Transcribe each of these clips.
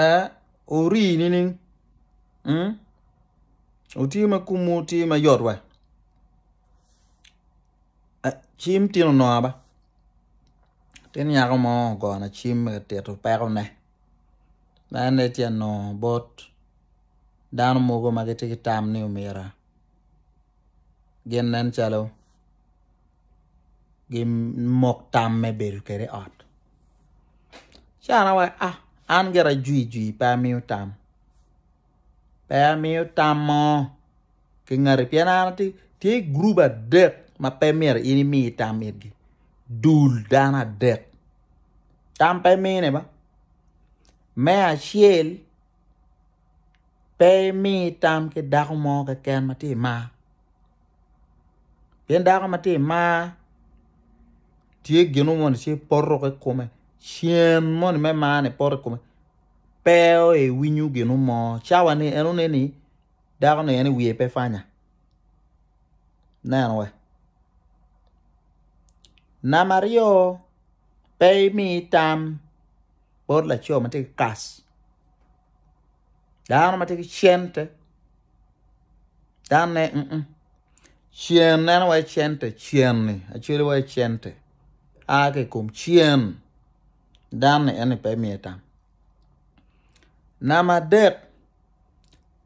ee ori nining otye ma komwu tye ma yot wa cim tin onongo aba latin nyako mo ogona cim ma tye ka tito pekone ma en aye tye ka nongo bot dano mogo ma gitye ki tam ni omyero. gin nen calo gimok tam me bedo kede i ot. Ci an awaco ah an gira ajwi jwi pe amiyo tam pe amiyo tam mo ki ngati pien an atye tye gurup adek ma pe myero in imi tam itgi dul dano adek tam pe mine ba me acel Pe imi tam ki dako mo keken ma tye i mar pien dako ma tye i mar tye gin mo moni ci poto ki i kome cen moni me marni poto ki i kome pe iwinyo gin mo cawani en one ni dakoni en wiye pe pwanya neno wa. Namba aryo pe imi tam. bot laco ma tye ki kas, dano ma tye ki cente, danne mm cen neno wai cente cen-ni acwele wai cente a ki i kom cen dan-ni en aye pe imiyo tam. Namba adek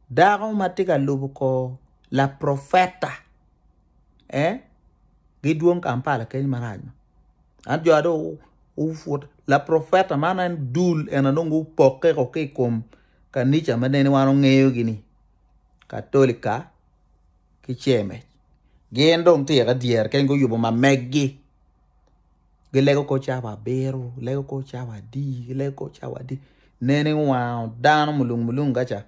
Dako ma tye ka lubo kor laprofeta eh gidwong Kampala keny marac ma. Ento jo dong gupwod laprofeta man en dul en aye dong gupokkeko ki i kom kanica ma nene wan wangeyogi ni Katolika ki Cemec gin dong tika dyere keken guyubo ma meggi. Gilego kor cawa abiro, gilego kor cawa adi, gilego kor cawa adi. Nene wango dano mulung mulung gaca.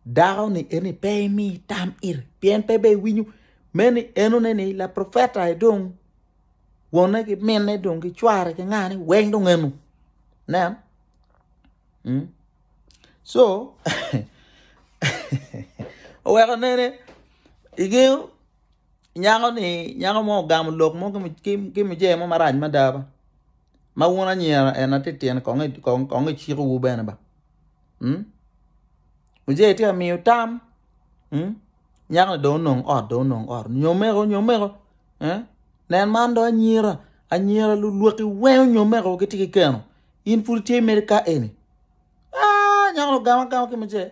Dako ni eni pe imi tam iri pien pe be iwinyo me ni eno ne ni la profeta e dong wonne ki minne dong ki cware ki ngane weng dong eno. Nen. Mm. So, oweko nene igengo Nyako ni nyako mo ogamo lok mo ki mujee mo marac mada ba ma wun anyira ena ti tyene kong iciko wu bene ba mujee ti amiyo tam nyako ni dong onong ot dong onong ot nyomeko nyomeko nen man dong anyira anyira lulwaki weng onyomeko giti ki keno in pud itye mere ka eni nyako ni ogamo agama ki mujee.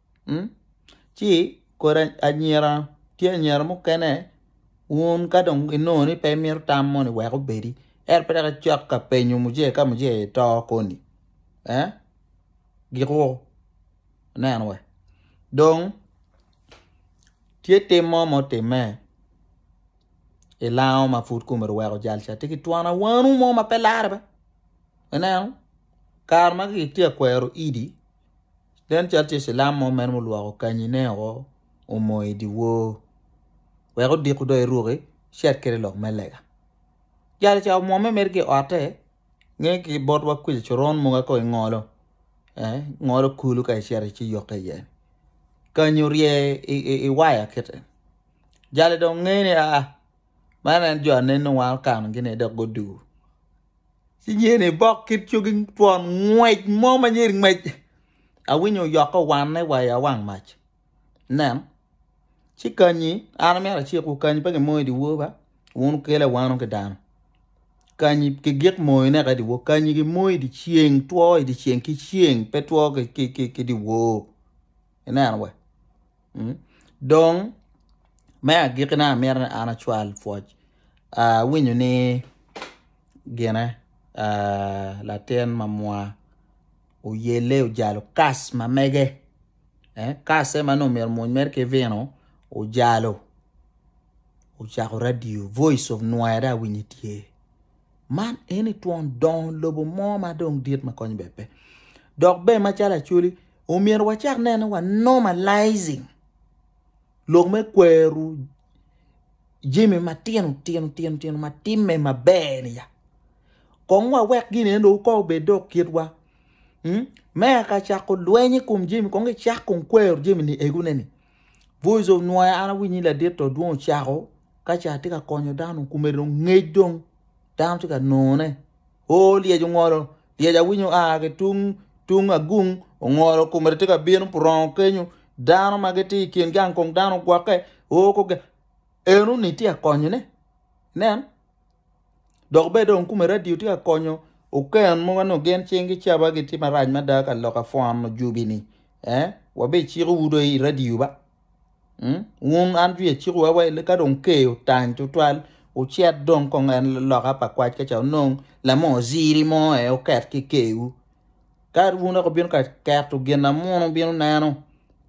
ci kodi anyira tye anyira mukene wun ka dong inongo ni pe imito tam moni wek obedi ento pe dok icok ka penyo muje ka muje ito koni giko ineno wa dong tye tim mo ma otimme i lango ma pud kome ori weko jal ca tye ki twon awano mo ma pe lare bene ineno kare ma kitye ka kwero idi. Nen calo tye cilam mo mere ma olwoko kanyine woko omo i dyewor wek odiku dong eruki ci akel lok me lega. Jali ca omwome mere ki i otte nge ki bot wa kuca coron mogo ka ingolo ngolo kulu ka icito ci yokke iye kanyi orye i waya kite jali dong nge ni aa man en jo anenni wa okano gi ni dok gudu. Inyeni bok kit cogi twon ngwec mo ma nyeri ngwec awinyo yok owanne wa i awang mac nen ci kanyi an amyero acikwu kanyi pe kimoyo i dyewor ba wun wukele awano ki dano kanyi kigik moyo ne ka i dyewor kanyi kimoyo i dyeceng two i dyeceng ki ceng pe two ki dyewor. Ineno we? Mm. Dong, me agikine amito ni an acwal pwoc. Ah, awinyo ni gine ah, latin mamwa oyelle ojalo kas ma mege. Eh, kasse ma nongo myero omwony mere ki vino ojalo. Ocako radio, voice of nwaya dong awinyo tye. Man eni twon dongo lobo mo ma dong dit ma kony bene pe. Dok bene macalo Acholi, omyero wacak nene wa normalizing lok me kwero jami matino tino tino tino ma timme maber ni ya. Kong wawek gini endo ko obed dok kitwa. Hmm? Me aka cako lweny i kom jami, kong icak kong kwero jami ni egune ni. Voice of Nwoya an awinyo ni ladit to dwong ocako ka ce atye ka konyo dano kome dong ngec dong dano tye ka none o lyec ongolo lyec awinyo a ki tung tung agung ongolo kome tye ka bino purongo kenyo dano ma gitye i kin gang kong dano ogwokke o kong en-ni tye ka konyone nen Dok bene dong kome radio tye ka konyo oken mogo nongo gin cing ki caba gitye marac mada ka lok afon ojubi ni eh wabe ciko wu do i radio ba mm? wun an jwi aciko wa wai ka dong ke otany tutwal ucet dong kong en loka pa kwac ka ca onong lamo ziri mo eh oket ki kewu ka wun ako bino ka keto gin amuno bino neno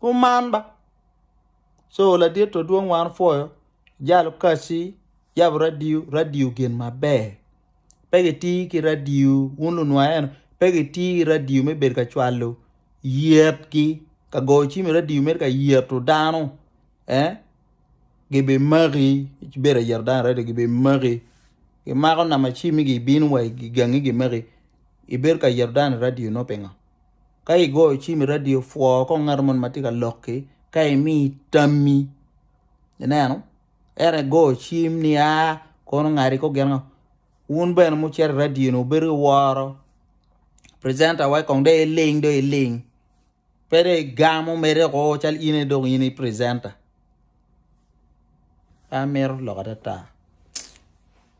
Kuman ba. Co ladit to dwong wan opwoyo jalo kaci yabo radio, radio gin maber pe gitir ki radio wun lunwang eno pe gitir ki radio me bedo ka cwalo yetgi ka goyo cim i radio mere ka yeto dano eh gibimaki ci bedo ka yeto dano i radio gibimaki gimako namba cimigi ibino wa igangi gimaki ibedo ka yeto dano i radio-no pingo? Ka igoyo cim i radio pwo kong ngat moni ma tye ka lok-ki ka emi tammi ineno ento igoyo cim ni aa kono ongadi kong gin ango wun bene ma wucito i radio-ni wubedo ki woro precenter wa kong dong iling dong iling pe dong igamo medde woko calo in aye dong in i precenter. An amito lok adada.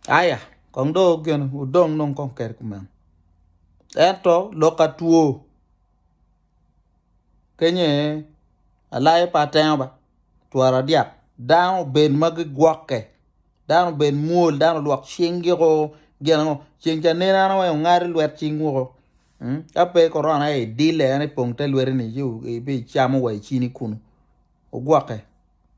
Aya kong do gene udong nong kong keri kumeno. Ento lok atwo kenyo aye alayo pe atengo ba twara dyak dano obed ma gigwokke. dano obed mwol dano olwok cingi o gin ango ceng ca nen ano weng ongadi lwet cing woko ka pe korona aye idile en ipong te lweteni ci ibicamo wa icini kunu ogwokke.